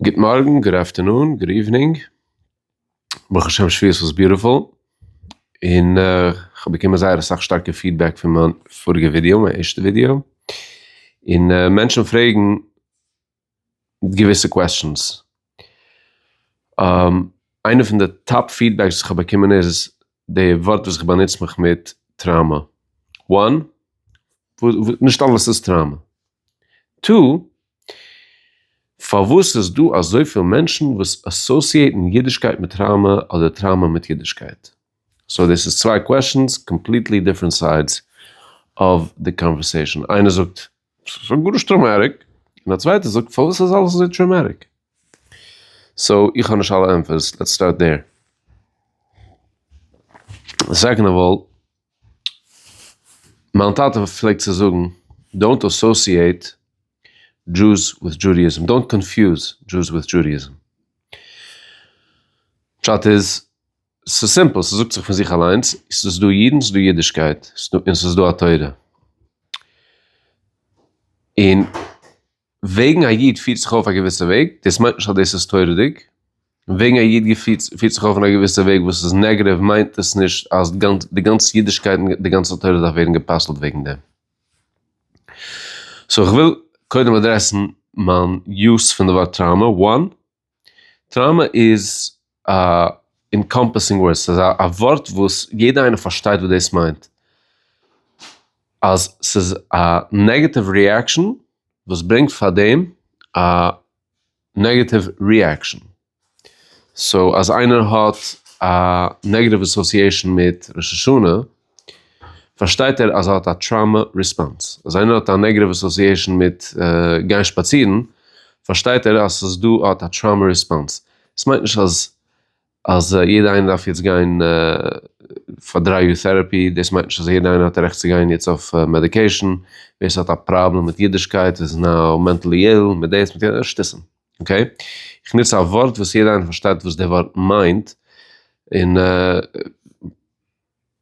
גוט מארגן, גוד אפטערנון, גוד איווענינג, ברוך השם שפיות וואס ביוטיפול, און כ'האב באקומען זייער אסאך שטארקע פידבעק פון מיין פאריגע ווידיאו, מיין ערשטע ווידיאו, און מענטשן פרעגן געוויסע קוועסטשענס. איינע פון די טאפ פידבעקס וואס כ'האב באקומען איז די ווארט וואס איך באנוץ מיך מיט, טראמא. וואן, נישט אלעס איז טראמא. טו, פארוואס איז דא אזויפיל מענטשן וואס אסאסיעטן אידישקייט מיט טראמא אדער טראמא מיט אידישקייט? סאו דאס איז צוויי קוועשאנס, קאמפליטלי דיפרענט סיידס אוו די קאנווערסעישאן. איינער זאגט ס'איז גארנישט טראומעטיק, און א צווייטער זאגט פארוואס איז אלעס אזוי טראומעטיק? סאו איך האב נישט אלע ענטפערס, לעטס סטארט דער. סעקאנד אוו אלל, מיין טאטע פלעגט צו זאגן, דאונט אסאסיעט דזשוס וויט דזשודעיזם, דאונט קאנפיוז דזשוס וויט דזשודעיזם. פשט איז. ס'איז סימפל, ס'זאגט זיך פון זיך אליינס, ס'איז דא אידן, ס'איז דא אידישקייט, און ס'איז דא א תורה. און וועגן א איד פירט זיך אויף א געוויסע וועג, דאס מיינט נישט אז דאס איז תורה'דיג, און וועגן א איד געפירט פירט זיך אויף אין א געוויסע וועג וואס איז נעגעטיוו מיינט דאס נישט אז די גאנצע אידישקייט און די גאנצע תורה דארף ווערן גע'פסל'ט וועגן דעם. סאו כ'וויל קודם אדרעסן מיין יוס פון די ווארט טראומא, וואן, טראומא איז א אינקאמפעסינג ווארד, ס'איז א ווארט וואס יעדע איינער פארשטייט וואס דאס מיינט, אז ס'איז א נעגעטיוו ריעקשאן וואס ברענגט פאר דעם א נעגעטיוו ריעקשאן. סאו אז איינער האט א נעגעטיוו אסאסיעשאן מיט ראש השנה. פארשטייט ער אז ער האט א טראומא ריספאנס. אז איינער האט א נעגעטיוו אסאסיעישאן מיט גיין שפאצירן, פארשטייט ער אז ס'איז דא, ער האט א טראומא ריספאנס. עס מיינט נישט אז אז יעדער איינער דארף יעצט גיין פאר דריי יאר טעראפי, דאס מיינט נישט אז יעדער איינער האט א רעכט צו גיין יעצט אויף מעדיקעישאן, ווער ס'האט א פראבלעם מיט אידישקייט איז נאו מענטעלי איל, מיט דאס מיט יענעם, שטותים. אקעי? איך נוץ א ווארט וואס יעדער איינער פארשטייט וואס די ווארט מיינט, און.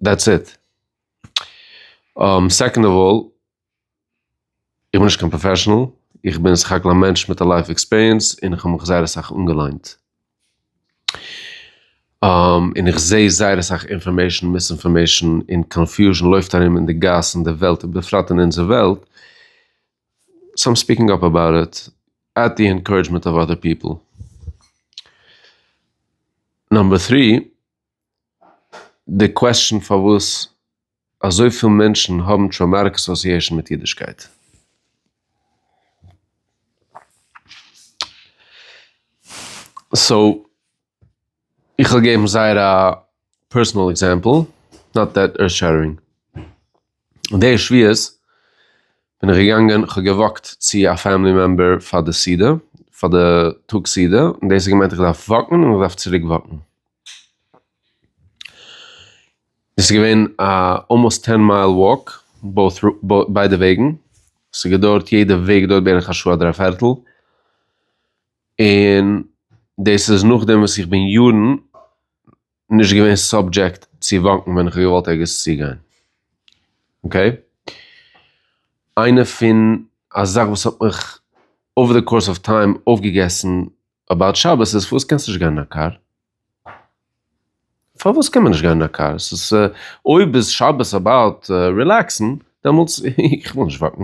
דעטס איט. סעקאנד אוו אלל, איך בין נישט קיין פראפעשענעל, איך בין סך הכל א מענטש מיט א לייף עקספיריענס און איך האב מיך זייער אסאך אנגעליינט. און איך זע זייער אסאך אינפארמעישן, מיסאינפארמעישן און קאנפיוזשן לויפט ארום אין די גאס אין די וועלט און בפרט אין אונזער וועלט, סאו איים ספיקינג אפ אבאוט איט עט די אינקארעדזשמענט אוו אדער פיפל. נאמבער טרי. די קוועסטשען פארוואס אזויפיל מענטשן האבן טראומאטיק אסאסיעשאן מיט אידישקייט. סאו, איך וועל געבן זייער א פערסענעל עקזעמפל, נאט דעט ערט שעטערינג. און די שבועות בין איך געגאנגען, כ'האב געוואקט צו א פעמילי מעמבער פאר די סעודה, פאר די טאג סעודה, און דאס האט געמיינט איך דארף וואקן און איך דארף צוריק וואקן. דאס איז געווען א אלמאסט טען מייל וואק בויט ביידע וועגן, עס האט געדויערט יעדע וועג דארט בערך א שעה אדער א פערטל, און דאס איז נאכדעם וואס איך בין יארן נישט געווען סאבדזשעקט צו וואקן ווען איך האב געוואלט ערגעץ צוגיין. אקעי. איינע פון א זאך וואס האט מיך אווער די קאורס אוו טיים אויפגעגעסן אבאוט שבת איז פארוואס קענסטו נישט גיין אין א קאר? פארוואס קען מען נישט גיין אין א קאר? ס'איז אויב איז שבת אבאוט רילעקסן דעמאלטס איך וויל נישט וואקן.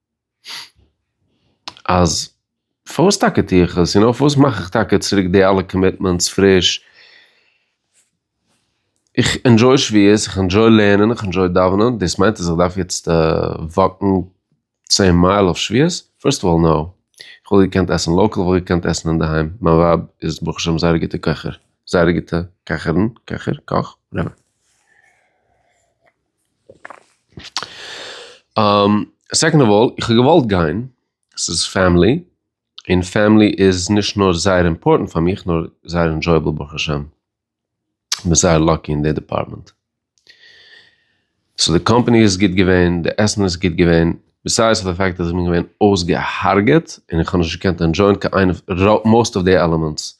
אז פארוואס טאקע טוה איך עס, און אויף וואס מאך איך טאקע צוריק די אלע קאמיטמענטס פריש, איך ענדזשוי שביעות, איך ענדזשוי לערנען, איך ענדזשוי דאווענען, דאס מיינט אז איך דארף יעצט וואקן צען מייל אויף שביעות? פירסט אוו אלל נאו, איך וואלט געקענט עסן לאקעל, איך וואלט געקענט עסן אינדערהיים, מיין ווייב איז ברוך השם זייער א גוטע קעכער, זייער א גוטע קעכערין, קעכער, קאך, וואטעווער. סעקאנד אוו אלל, איך האב געוואלט גיין, ס'איז פעמילי, און פעמילי איז נישט נאר זייער אימפארטענט פאר מיך נאר זייער ענדשויעבל ברוך השם, כ'בין זייער לאקי אין די דעפארטמענט. סאו די קאמפאני איז גוט געווען, די עסן איז גוט געווען, בעסיידס די פעקט אז כ'בין געווען אויסגעהארגעט און כ'האב נישט געקענט ענדשויען קיין איינע, מאוסט אוו די עלעמענטס.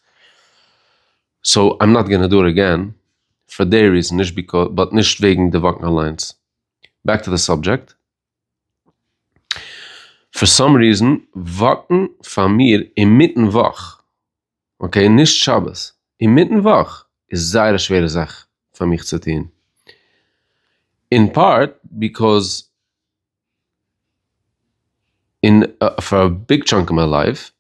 סאו איים נאט גאנא דא עגעין פאר דעי ריזען נישט ביקאוס באט נישט וועגן די וואקן אליינס בעק טו די סאבדזשעקט. פאר סאם ריזען וואקן פאר מיר אינמיטן וואך אקעי נישט שבת אינמיטן וואך איז זייער א שווערע זאך פאר מיך צו טון אין פארט ביקאוס אין פאר א ביג טשאנק אוו מיי לייף.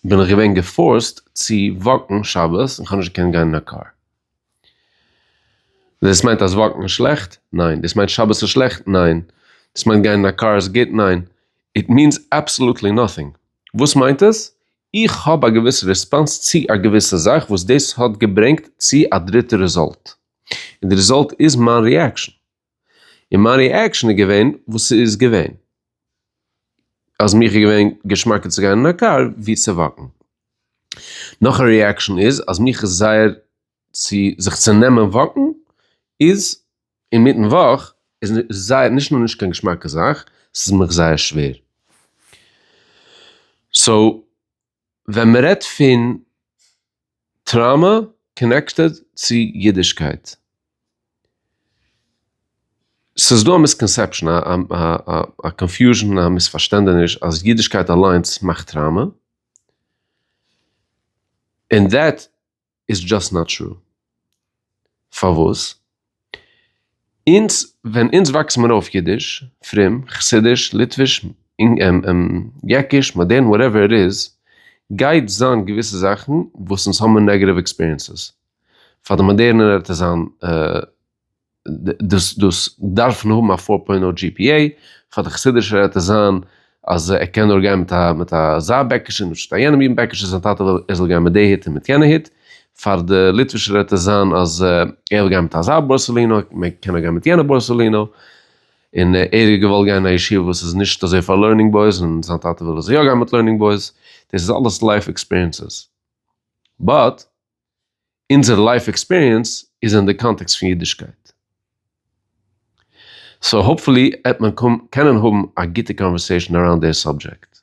בין איך געווען געפארסט צו וואקן שבת און כ'האב נישט געקענט גיין אין א קאר. דאס מיינט אז וואקן איז שלעכט? ניין. דאס מיינט שבת איז שלעכט? ניין. דאס מיינט גיין אין א קאר איז גוט? ניין. איט מיענס אבסאלוטלי נאטינג. וואס מיינט עס? איך האב א געוויסע ריספאנס צו א געוויסע זאך וואס דאס האט געברענגט צו א דריטע ריזאלט. און די ריזאלט איז מיין ריעקשאן. און מיין ריעקשאן איז געווען וואס ס'איז געווען. אז מיך איז געווען געשמאקער צו גיין אין א קאר ווי צו וואקן. נאך א ריעקשאן איז אז מיך איז זייער צו זיך צו נעמען וואקן איז אינמיטן וואך איז זייער נישט נאר נישט קיין געשמאקע זאך ס'איז מיך זייער שווער. סאו ווען מען רעדט פון טראמע קאנעקטעד צו אידישקייט, ס'איז דא א מיסקאנסעפשאן, א קאנפיוזשען, א מיספארשטענדעניש אז אידישקייט אליינס מאכט טראמע, און דעט איז דזשאסט נאט טרו. פארוואס? אונז ווען אונז וואקסט מיר אויף אידיש, פרום, חסידיש, ליטוויש, יעקיש, מאדערן, וואטעווער איט איז, גייט זיין געוויסע זאכן וואס אונז האבן נעגעטיוו עקספיריענסעס. פאר די מאדערנער וועט עס זיין דאס דאס דארפן האבן א פאר פוינט נאו gpa, פאר די חסידישער העט עס זיין אז ער קען נאר גיין מיט א מיט אזא בעקישע און נישט מיט א יענעם אידן בעקישע, זיין טאטע וויל ער זאל גיין מיט די הוט און מיט יענע הוט, פאר די ליטווישער העט עס זיין אז ער וויל גיין מיט אזא בארסעלינא, מען קען נאר גיין מיט יענע בארסעלינא, און ער האט געוואלט גיין אין א ישיבה וואס איז נישט אזוי פאר לערנינג בויס און זיין טאטע וויל ער זאל יא גיין מיט לערנינג בויס, דאס איז אלעס לייף עקספיריענסעס, באט. אונזער לייף עקספיריענס איז אין די קאנטעקסט פון אידישקייט. סאו האופפולי עט מען קענען האבן א גוטע קאנווערסעישן אראונד דער סאבדזשעקט.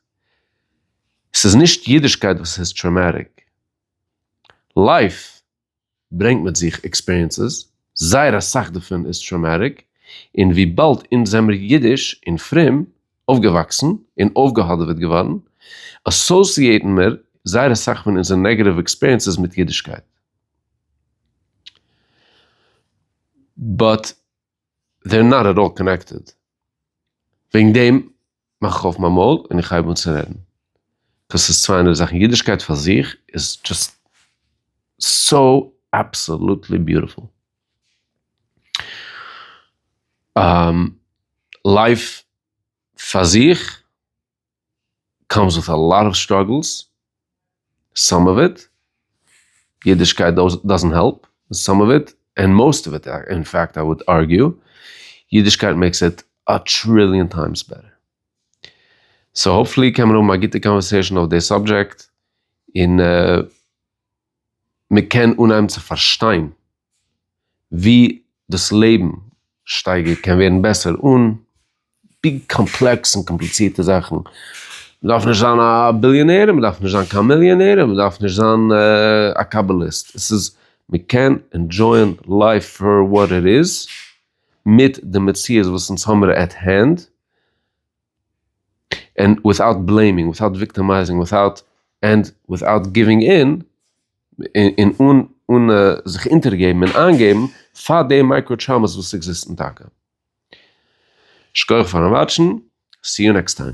ס'איז נישט אידישקייט וואס איז טראומעטיק. לייף ברענגט מיט זיך עקספיריענסעס, זייער אסאך דערפון איז טראומעטיק, און וויבאלד אונז זעמיר אידיש און פרום אויפגעוואקסן און אויפגעהאדעוועט געווארן, אסאסיעיטן מיר זייער אסאך פון אונזער נעגעטיוו עקספיריענסעס מיט אידישקייט. באט דער נאט עט אלל קאנעקטעד. וועגן דעם מאך איך אויף מיין מויל און איך הייב אן צו רעדן. קאוז ס'איז צוויי אנדערע זאכן. אידישקייט פאר זיך איז דזשאסט סאו אבסאלוטלי ביוטיפול. לייף פאר זיך קאמס וויט א לאט אוו סטראגעלס, סאם אוו איט, אידישקייט דאזענט העלפ, סאם אוו איט, און מאוסט אוו איט, אין פעקט איי וואלד ארגיו, אידישקייט מעיקס איט א טריליאן טיימס בעטער. סאו האפפולי קען מען האבן א גוטע קאנווערסעישאן אויף די סאבדזשעקט, און. מען קען אנהייבן צו פארשטיין ווי דאס לעבן שטייגער קען ווערן בעסער אן ביג קאמפלעקס און קאמפליצירטע זאכן. מען דארף נישט זיין א ביליאנער, מען דארף נישט זיין קיין מיליאנער, און מען דארף נישט זיין א קאבאליסט. עס איז, מען קען ענדשויען לייף פאר וואט איט איז, מיט די מציאות וואס אונז האמיר עט הענד, און וויטאוט בלעימינג וויטאוט וויקטעמייזינג וויטאוט ענד וויטאוט גיווינג אין, און אן אן זיך אונטערגעבן און איינגעבן פאר די מייקרא טראמאס וואס עקזיסטן טאקע. שכוח פארן וואטשן, סי יו נעקסט טיים.